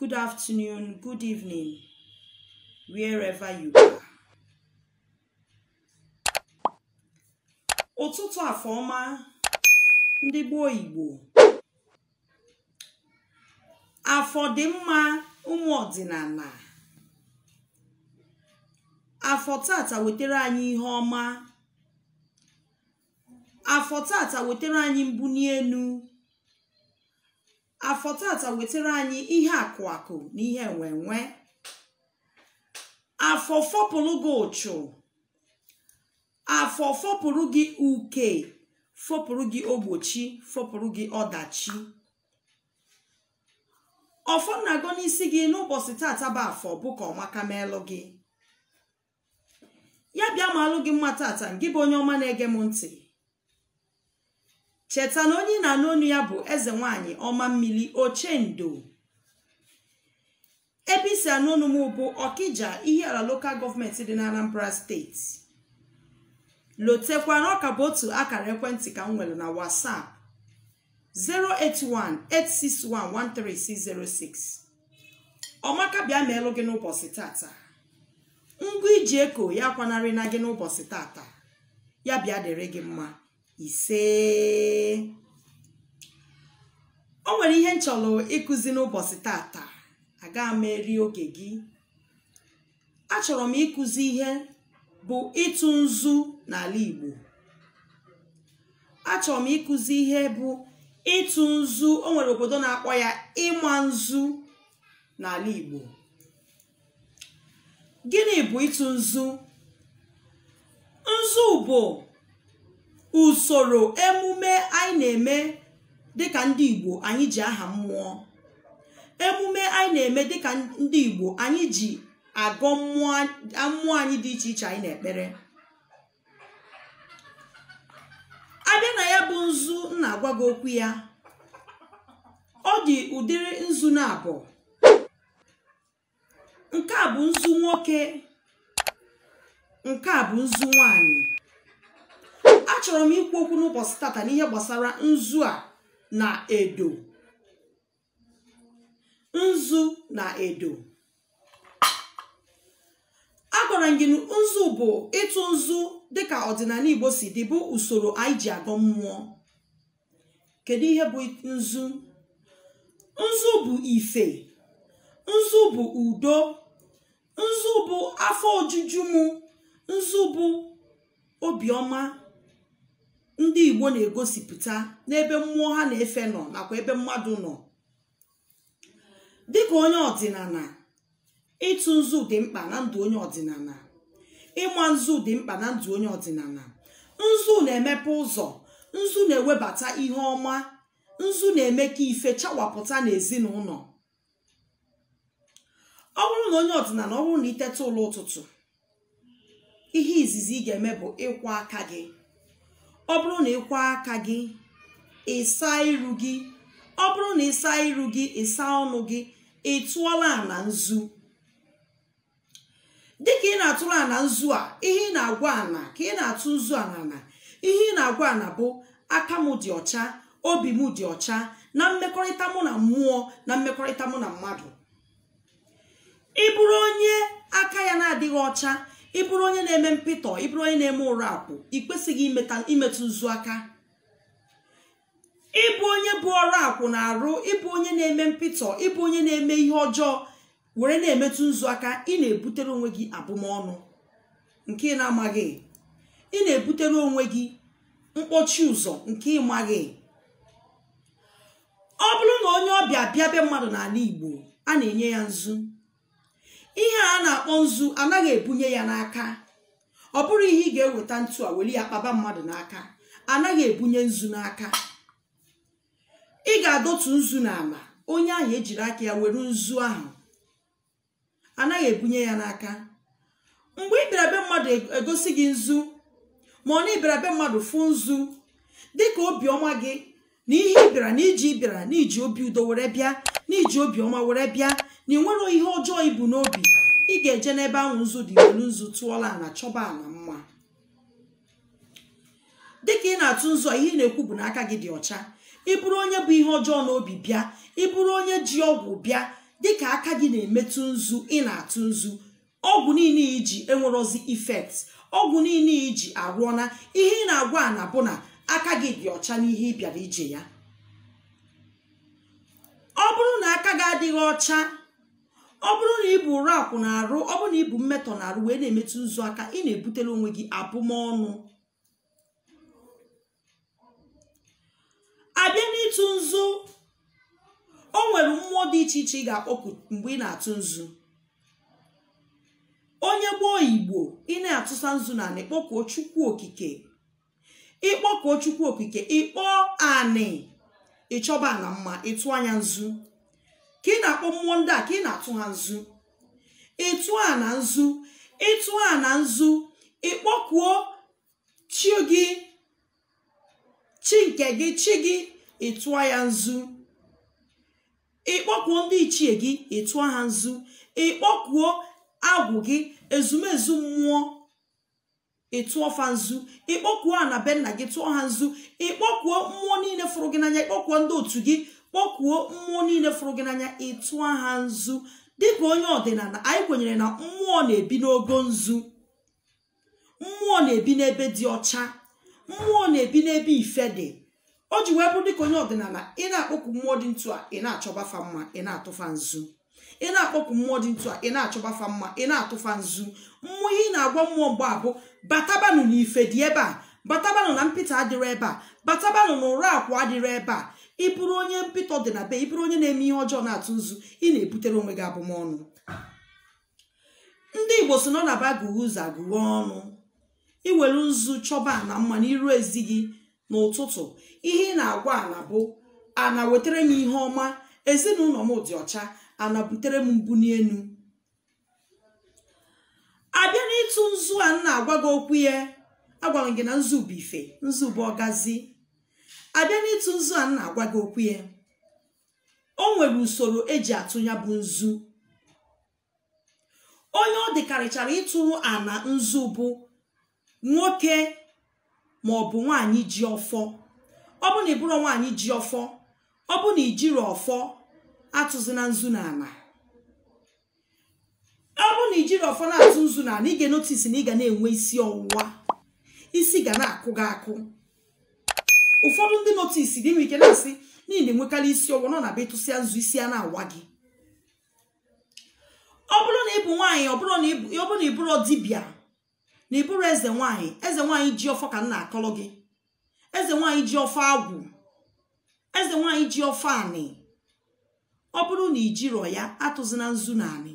Good afternoon, good evening, wherever you are. Ụtụtụ afọ ọma ndị gboo Igbo. Afọ dị mma ụmụ ọdịnala. Afọ tata wetere anyị ihe ọma. Afọ tata wetere anyị mbuni enu. afọ tata wetere anyị ihe akụ akụ na ihe enwe enwe afọ fopụrụ gị uchu afọ fopụrụ gị uke fopụrụ gị ogbochi fopụrụ gị ọdachi ọfọ na-agọ n'isi gị n'ụbọsị tata bụ afọ bụ ka ọmaka meelụ gị ya bịa maalụ gị mma tata gị bụ onye ọma na-ege m ntị cheta na onye ị na-anụ onu ya bụ eze nwanyị ọma mmiri ochendo ebe i si anụ onu m bụ ọkịja ihiala lokal gọọmenti dị na anambra steeti lotekwa na ọ ka bụ otu akara ekwentị ka m nwere na whatsapp 08186113606 ọmaka bịa meelụ gị n'ụbọsị tata ngwa i ji eko ya akwanarịna gị n'ụbọsị tata ya bịa dịrị gị mma isee o nwere ihe m chọrọ ịkụzi n'ụbọsị tata agaghị m eri oge gị achọrọ m ịkụzi ihe bụ ịtụ nzu n'ala Igbo achọrọ m ịkụzi ihe bụ ịtụ nzu o nwere obodo na-akpọ ya ịma nzu n'ala Igbo gịnị bụ ịtụ nzu nzu bụ usoro emume anyị na-eme dịka ndị igbo anyị ji aha mmụọ emume anyị na-eme dịka ndị igbo anyị ji agọ mmụọ mmụọ anyị dị iche iche anyị na-ekpere a bịa na ya bụ nzu m na-agwa gị okwu ya ọ dị ụdịrị nzu na abụọ nke a bụ nzu nwoke nke a bụ nzu nwanyị achọrọ m ikwu okwu n'ụbọsị tata n'ihe gbasara nzu a na edo nzu na edo agwara m gị na nzu bụ ịtụ nzu dịka ọdịnala igbo si dị bụ usoro anyị ji agọ mmụọ kedu ihe bụ nzu nzu bụ ife nzu bụ udo nzu bụ afọ ojuju mụ nzu bụ obiọma ndị igbo na-egosipụta n'ebe mmụọ ha na-efe nọ nakwa ebe mmadụ nọ dịka onye ọdịnana ịtụ nzu dị mkpa na ndụ onye ọdịnana ịma nzu dị mkpa na ndụ onye ọdịnana nzu na-emepe ụzọ nzu na-ewebata ihe ọma nzu na-eme ka ife chawapụta n'ezinụlọ ọ bụrụ na onye ọdịnana ọ bụrụ na i teta ụla ụtụtụ ihe izizi ị ga-eme bụ ịkwọ aka gị ọ bụrụ na ị kwọọ aka gị ị saa iru gị ọ bụrụ na ị saa iru gị ị saa ọnụ gị ị tụọla ana nzu dịka ị na-atụrụ ana nzu a ihe ị na-agwa ana ka ị na-atụ nzu a n'ana ihe ị na-agwa ana bụ aka m dị ọcha obi m dị ọcha na mmekọrịta mụ na mmụọ na mmekọrịta mụ na mmadụ ị bụrụ onye aka ya na-adịghị ọcha ị bụrụ onye na-eme mpịtọ ị bụrụ onye na-eme ọrakwụ ị kwesịghị imetụ nzu aka ị bụ onye bu ọrakwụ n'arụ ị bụ onye na-eme mpịtọ ị bụ onye na-eme ihe ọjọọ were na-emetụ nzu aka ị na-ebutere onwe gị abụmọnụ nke ị na-amaghị ị na-ebutere onwe gị mkpọchi ụzọ nke ị maghị ọ bụrụ na onye ọbịa bịa be mmadụ n'ala igbo a na-enye ya nzu ihe a na-akpọ nzu anaghị ebunye ya n'aka ọ bụrọ ihe ị ga-eweta ntu a were ya kpaba mmadụ n'aka anaghị ebunye nzu n'aka ị ga-edotu nzu n'ala onye ahụ ejiri aka ya were nzu ahụ anaghị ebunye ya n'aka mgbe ị bịara be mmadụ e gosi gị nzu ma ọ bụ ị bịara be mmadụ fụ nzu dịka obiọma gị na ihe ị bịara na iji bịara na i ji obi udo were bịa na i ji obiọma were bịa na i nwerọ ihe ọjọọ i bu n'obi ị ga-eje n'ebe ahụ nzu dị welu nzu tụọla ana chọba ana mma dịka ị na-atụ nzu a ihe ị na-ekwu bụ na aka gị dị ọcha ị bụrụ onye bu ihe ọjọọ n'obi bịa ị bụrụ onye ji ọgwụ bịa dịka aka gị na-emetụ nzu ị na-atụ nzu ọgwụ niile i ji enwerọzi effect ọgwụ niile i ji arụọna ihe ị na-agwa ana bụ na aka gị dị ọcha n'ihe ị bịara ije ya ọ bụrụ na aka gị adịghị ọcha ọ bụrụ na i bu ọrakwụ n'arụ ọ bụrụ na i bu mmetọ n'arụ wee na-emetụ nzu aka ị na-ebutere onwe gị abụmọnụ a bịa n'ịtụ nzu o nwere mmụọ dị iche iche ị ga-akpọku mgbe ị na-atụ nzu onye gboo igbo ị na-atụsa nzu n'ana ị kpọkuo chukwu okike ịkpọkuo chukwu okike ịkpọọ anị ịchọba ana mma ịtụa nya nzu ka ị na-akpọ mmụọ ndị a ka ị na-atụ ha nzu ịtụ ana nzu ịtụ ana nzu ịkpọkuo chi gị chi nke gị chi gị ịtụọ ya nzu ịkpọkuo ndị ichie gị ịtụọ ha nzu ịkpọkuo agwụ gị ezumezu mmụọ ịtụọ fa nzu ịkpọkuo ana be nna gị tụọ ha nzu ịkpọkuo mmụọ niile fụrụ gị n'anya ịkpọkuo ndị otu gị kpọkuo mmụọ niile fụrụ gị n'anya ịtụọ ha nzu dịka onye ọdịnala anyị kwenyere na mmụọ na-ebi n'ogo nzu mmụọ na-ebi n'ebe dị ọcha mmụọ na-ebi n'ebe ife dị o ji wee bụrụ dịka onye ọdịnala ị na-akpọku mmụọ dị ntu a ị na-achọba fa mma ị na-atụ fa nzu ị na-akpọku mmụọ dị ntu a ị na-achọba fa mma ị na-atụ fa nzu mmụọ ihe ị na-agwa mmụọ mgbe a bụ batabanụ na ife dị ebe a batabanụ na mpịta adịrọ ebe a batabanụ na ụra akwa adịrọ ebe a ị bụrụ onye mpịtọ dị na be ị bụrụ onye na-eme ihe ọjọọ na-atụ nzu ị na-ebutere onwe gị abụmọnụ ndị igbo sị na ọ na-abụ agụghee ụzọ agụghee ọnụ iwere nzu chọba ana mma n'iru ezi gị n'ụtụtụ ihe ị na-agwa ana bụ ana wetara m ihe ọma ezinụlọ m dị ọcha ana butere m mbuni enu abịa n'ịtụ nzu a m na-agwa gị okwu ya agwara m gị na nzu bụ ife nzu bụ ọgazi abịa n'ịtụ nzu a m na-agwa gị okwu ya o nwere usoro eji atụ ya bụ nzu onye ọ dịkarịchara ịtụrụ ana nzu bụ nwoke ma ọ bụ nwaanyị ji ọfọ ọ bụ na ịbụrụ nwaanyị ji ọfọ ọ bụ na ijirọ ọfọ atụzina nzu na ana ọ bụrụ na ijirọ ọfọ na-atụ nzu na anị ị ga-enotice na ị ga na-enwe isi ọwụwa isi ga na-akụ gị akụ ụfọdụ ndị notice gị nwere ike na-asị na ị na-enwekarị isi ọwụwa na ọ na-abụ ịtụsịa nzu isi a na-awa gị ọ bụrụ na ịbụ nwaanyị ọ bụrụ na ịbụrụ dibịa na ịbụrụ eze nwaanyị eze nwaanyị ji ọfọ ka m na-akọrọ gị eze nwaanyị ji ọfọ agwụ eze nwaanyị ji ọfọ anị ọ bụrụ na ijirọ ya atụzina nzu na anị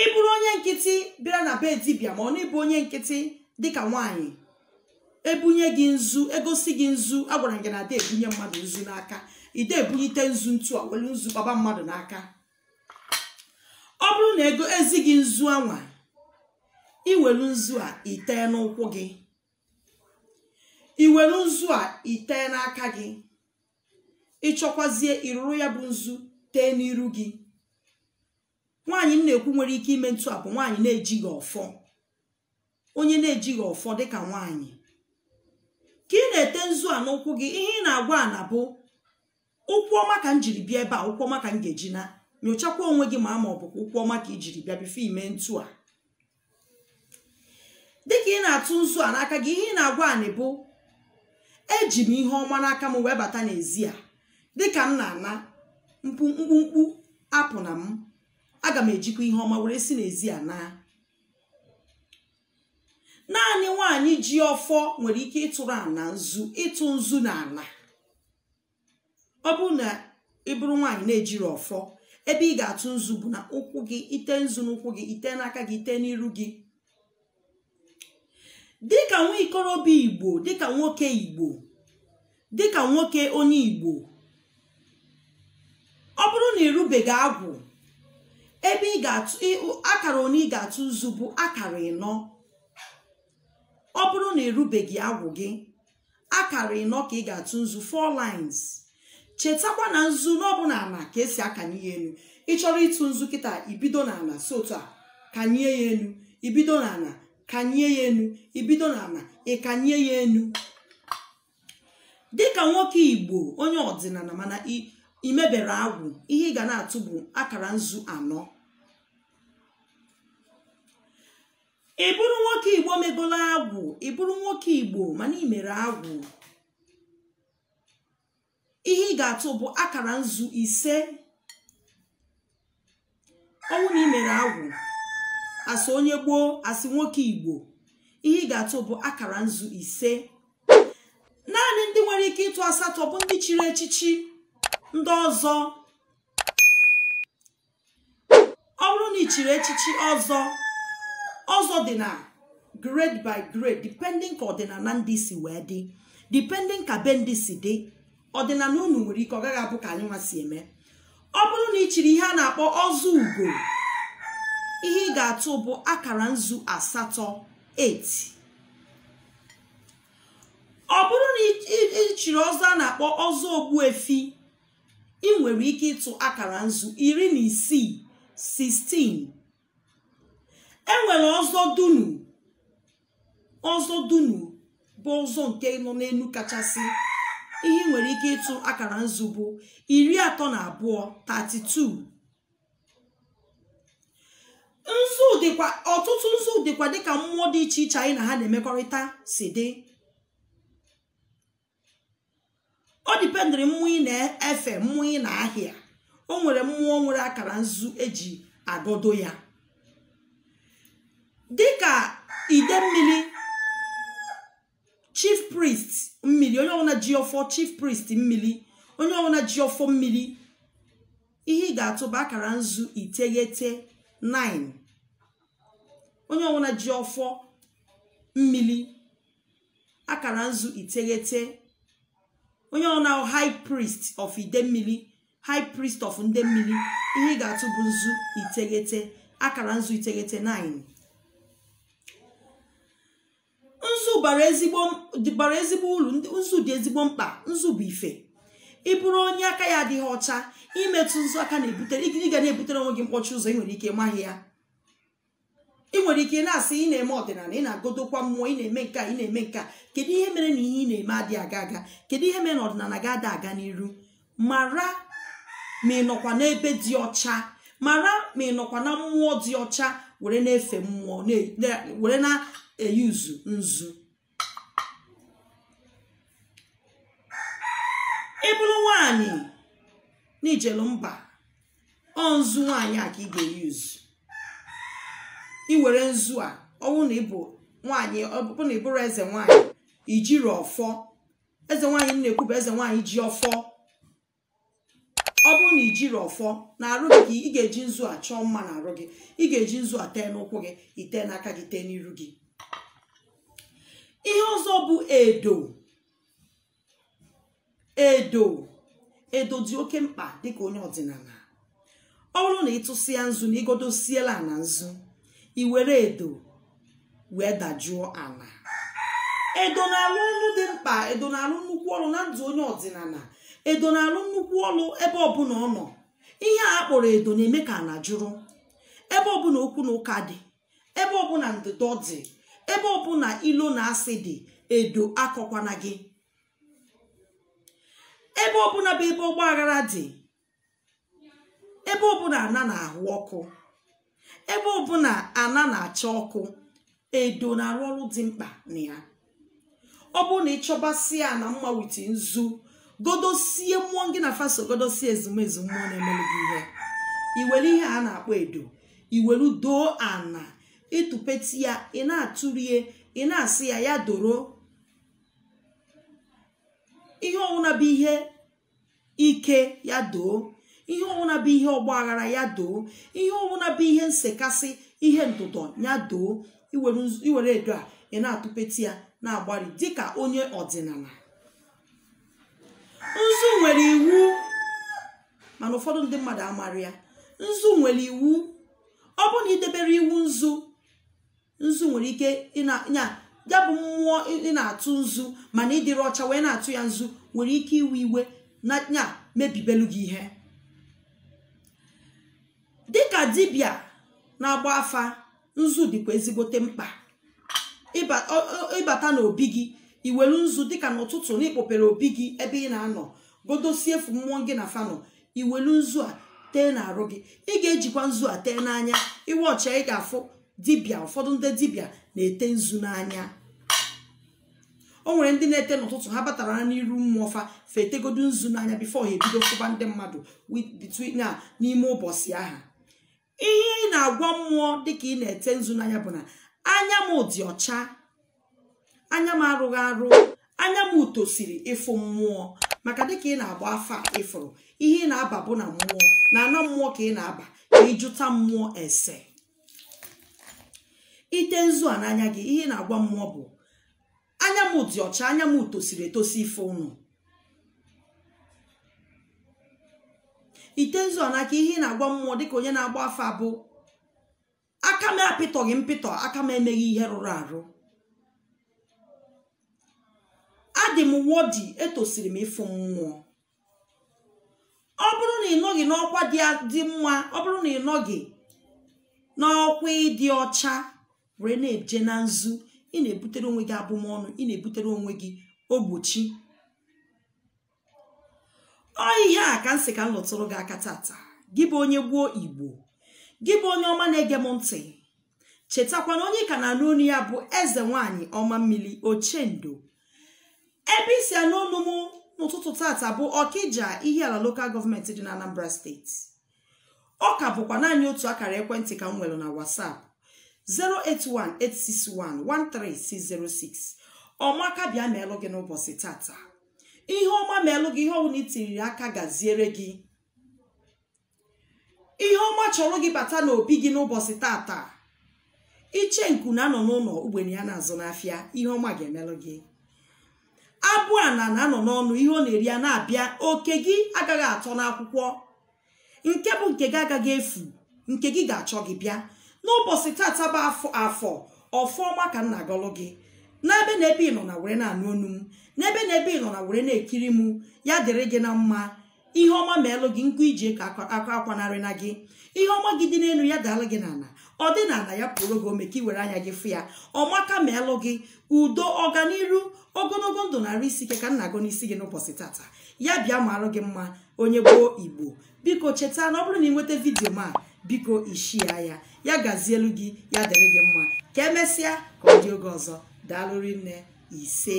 ị bụrụ onye nkịtị bịara na be dibịa ma ọ na ịbụ onye nkịtị dịka nwaanyị ebunye gị nzu egosi gị nzu agwara m gị na a da ebunye mmadụ nzu n'aka ị da ebunyite nzu ntu a welu nzu gbaba mmadụ n'aka ọ bụrụ na egosi gị nzu anwa iwelu nzu a itee n'ụkwụ gị i were nzu a i tee n'aka gị ị chọkwazie ịrụrụ ya bụ nzu tee n'iru gị nwaanyị m na-ekwu nwere ike ime ntu a bụ nwaanyị na-ejighị ọfọ onye na-ejighị ọfọ dịka nwaanyị ka ị na-ete nzu a n'ụkwụ gị ihe ị na-agwa ana bụ ụkwụ ọma ka m jiri bịa ebe a ụkwụ ọma ka m ga-eji naa nyochakwa onwe gị ma ma ọ bụkwa ụkwụ ọma ka i jiri bịa before ime ntu a dịka ị na-atụ nzu a n'aka gị ihe ị na-agwa anị bụ eji m ihe ọma n'aka m wee bata n'ezi a dịka m na-ana mkpumkpu apụna m aga m ejikwa ihe ọma were si n'ezi a naa naanị nwaanyị ji ọfọ nwere ike ịtụrụ ana nzu ịtụ nzu na ala ọ bụrụ na ị bụrụ nwaanyị na-ejighị ọfọ ebe ị ga-atụ nzu bụ na ụkwụ gị i te nzu n'ụkwụ gị i te n'aka gị i te n'iru gị dịka nwa ikorobịa igbo dịka nwoke igbo dịka nwoke onye igbo ọ bụrụ na ị rụbeghị agwụ ebe ị ga-atụ akara one ị ga-atụ nzu bụ akara ịnọ ọ bụrụ na ị rụbeghị agwụ gị akara ịnọ ka ị ga-atụ nzu four lines chetakwa na nzu na ọ bụ n'ana ka e si akanye ya enu ị chọrọ ịtụ nzu kịta i bido n'ana si otu a kanye ya enu i bido n'ana kanye ya enu i bido n'ana ị kanye ya enu dịka nwoke igbo onye ọdịnana mana i mebeghị agwụ ihe ị ga na-atụ bụ akara nzu anọ ị bụrụ nwoke igbo megolo agwụ ị bụrụ nwoke igbo mana ị mere agwụ ihe ị ga-atụ bụ akara nzu ise ọ bụrụ na ị mere agwụ as onye igbo as nwoke igbo ihe ị ga-atụ bụ akara nzu ise naanị ndị nwere ike ịtụ asatọ bụ ndị chiri echichi ndị ọzọ ọ bụrụ na ị chiri echichi ọzọ ọzọ dị na grade by grade depending ka ọdịnana ndị si wee dị depending ka be ndị si dị ọdịnana unu nwere ike ọ gaghị abụ ka anyị nwa si eme ọ bụrụ na ị chiri ihe a na-akpọ ọzọ ugo ihe ị ga-atụ bụ akara nzu asatọ 8 ọ bụrụ na ị chiri ọzọ a na-akpọ ọzọ ogbuefi ị nwere ike ịtụ akara nzu iri na isii 16 e nwere ọzọ dunu ọzọ dunu bụ ọzọ nke nọ n'elu kachasị ihe ị nwere ike ịtụ akara nzu bụ iri atọ na abụọ 32 nzu dịkwa ọtụtụ nzu dịkwa dịka mmụọ dị iche iche anyị na ha na-emekọrịta si dị ọ dependịrị mmụọ ị na-efe mmụọ ị na-ahịa o nwere mmụọ nwere akara nzu e ji agọdo ya dịka ide mmiri chief priest mmiri onye ọbụla ji ọfọ chief priest mmiri onye ọbụla ji ọfọ mmiri ihe ị ga-atụ bụ akara nzu iteghete 9 onye ọbụla ji ọfọ mmiri akara nzu iteghete onye ọbụla high priest of ide mmiri high priest of ndị mmiri ihe ị ga-atụ bụ nzu iteghete akara nzu iteghete 9 nzu bara ezigbo bara ezigbo uru nzu dị ezigbo mkpa nzu bụ ife ị bụrụ onye aka ya adịghị ọcha i metụ nzu aka na-ebutere ị ga na-ebutere onwe gị mkpọchi ụzọ ị nwere ike ị maghị ya ị nwere ike na-asị ị na-eme ọdịnala ị na-agọdokwa mmụọ ị na-eme nke a ị na-eme nke a kedu ihe mere na ihe ị na-eme adịghị aga aga kedu ihe mere na ọdịnala gị ada aga n'iru mara ma ị nọkwa n'ebe dị ọcha mara ma ị nọkwa na mmụọ dị ọcha were na-efe mmụọ were na-euse nzu ị bụrụ nwaanyị n'ijelu mba ọ nzu nwaanyị a ka ị ga-euse i were nzu a ọ bụ na ị bụ nwaanyị ọ bụrụ na ị bụrụ eze nwaanyị i jiri ọfọ eze nwaanyị na-ekwu bụ eze nwaanyị ji ọfọ ọ bụrụ na i jiri ọfọ n'arụ gị ka ị ga-eji nzu a chọọ mma n'arụ gị ị ga-eji nzu a tee n'ụkwụ gị i tee n'aka gị tee n'iru gị ihe ọzọ bụ edo edo edo dị oke mkpa dịka onye ọdịnala ọ bụrụ na ị tụsịa nzu na ị gọdosiela ana nzu i were edo wee dajụọ ala edo na-alụ ọlụ dị mkpa edo na-alụ nnukwu ọlụ na ndụ onye ọdịnala edo na-alụ nnukwu ọlụ ebe ọbụla ọ nọ ihe a kpọrọ edo na-eme ka ala jụrụ ebe ọbụla okwu na ụka dị ebe ọbụla ndọdọ dị ebe ọbụla ilo na asị dị edo akọkwana gị ebe ọbụla bụ ebe ọgba aghara dị ebe ọbụla ana na-ahụ ọkụ ebe ọbụla ana na-acha ọkụ edo na-arụ ọrụ dị mkpa na ya ọ bụrụ na ịchọbasie ana mma with nzu godosie mmụọ gị na fa so godosie ezumezu mmụọ na-emere gị ihe iwere ihe a na-akpọ edo iwelu doo ana ịtụpeti ya ị na-atụrie ị na-asị ya ya doro ihe ọwụna bụ ihe ike ya doo ihe ọbụla bụ ihe ọgba aghara ya doo ihe ọbụla bụ ihe nsekasị ihe ndụdọ ya doo iwere edo a ị na-atụpeti ya na-agbari dịka onye ọdịnala nzu nwere iwu mana ụfọdụ ndị mmadụ amara ya nzu nwere iwu ọ bụ na idebere iwu nzu nzu nwere ike ịna ya bụ mmụọ ị na-atụ nzu mana ịdịrị ọcha wee na-atụ ya nzu nwere ike iwe iwe na ya mebibelu gị ihe dịka dibịa na-agba afa nzu dịkwa ezigbote mkpa ịbata n'obi gị iwelu nzu dịka n'ụtụtụ na ịkpọpere obi gị ebe ị na-anọ godosie efu mmụọ gị na fa nọ iwelu nzu a tee n'arụ gị ị ga-ejikwa nzu a tee n'anya ị watch ị ga-afụ dibịa ụfọdụ ndị dibịa na-ete nzu n'anya o nwere ndị na-ete n'ụtụtụ ha batara na n'iru mmụọ fa fa etegodu nzu n'anya before ha ebido fụba ndị mmadụ between na n'ime ụbọchị ahụ ihe ị na-agwa mmụọ dịka ị na-ete nzu n'anya bụ na anya m dị ọcha anya m arụghị arụ anya mụ tosiri ịfụ mmụọ maka dịka ị na-agba afa ịfụrụ ihe ị na-aba bụ na mmụọ na ana mmụọ ka ị na-aba ka ịjụta mmụọ ese ite nzu a n'anya gị ihe ị na-agwa mmụọ bụ anya m dị ọcha anya m tosiri etosi ịfụ ụnụ ite nzu n'aka ihe ị na-agwa mmụọ dịka onye na-agba afa bụ aka m apịtọghị mpịtọ aka m emeghị ihe rụrụ arụ adị m worthy etosiri m ịfụ mmụọ ọ bụrụ na ị nọghị n'ọkwa dị mma ọ bụrụ na ị nọghị n'ọkwa ịdị ọcha were na-eje na nzu ị na-ebutere onwe gị abụmọnụ ị na-ebutere onwe gị ogbochi ọ ihe a ka m sị ka m lụtụrụ gị aka tata gị bụ onye gboo igbo gị bụ onye ọma na-ege m ntị chetakwa na onye ka na-anụ onu ya bụ eze nwanyị ọma mmiri ochendo ebe i si anụ onu m n'ụtụtụ tata bụ ọkija ihiala lokal gọọmenti dị na anambra steeti ọ ka bụkwa naanị otu akara ekwentị ka m nwere na whatsapp 08186113606 ọmaka bịa meelụ gị n'ụbọchị tata ihe ọma meelụ gị ihe ọbụna i tiriri aka gaziere gị ihe ọma chọrọ gị bata n'obi gị n'ụbọchị tata ichenku na-anọ n'ụnọ ugbene ya na-azụ n'afịa ihe ọma ga-emelụ gị abụana na-anọ n'ọnụ ihe ọ na-eri ana-abịa oke gị agaghị atọ n'akwụkwọ nke bụ nke gị agaghị efu nke gị ga-achọ gị bịa n'ụbọchị tata bụ afọ ọfọ ọma ka m na-agọlụ gị n'ebe na ebe ị nọ na were na-anụ onu m n'ebe na ebe ị nọ na were na-ekiri m ya dịrị gị na mma ihe ọma meelụ gị nke i ji aka akwanarịna gị ihe ọma gị dị n'enu ya daalụ gị n'ana ọ dị n'ana ya puoro gị ome ka i were anya gị fụ ya ọmaka meelụ gị udo ọganiru ogonogo ndụ na arụ isi ike ka m na-agọ n'isi gị n'ụbọchị tata ya bịa maarụ gị mma onye gboo igbo biko cheta na ọ bụrụ na ị nweta vidiyo m a biko i shịa ya ya gazielu gị ya dịrị gị mma ka emesịa ka ọ dị oge ọzọ daalụ rinne ise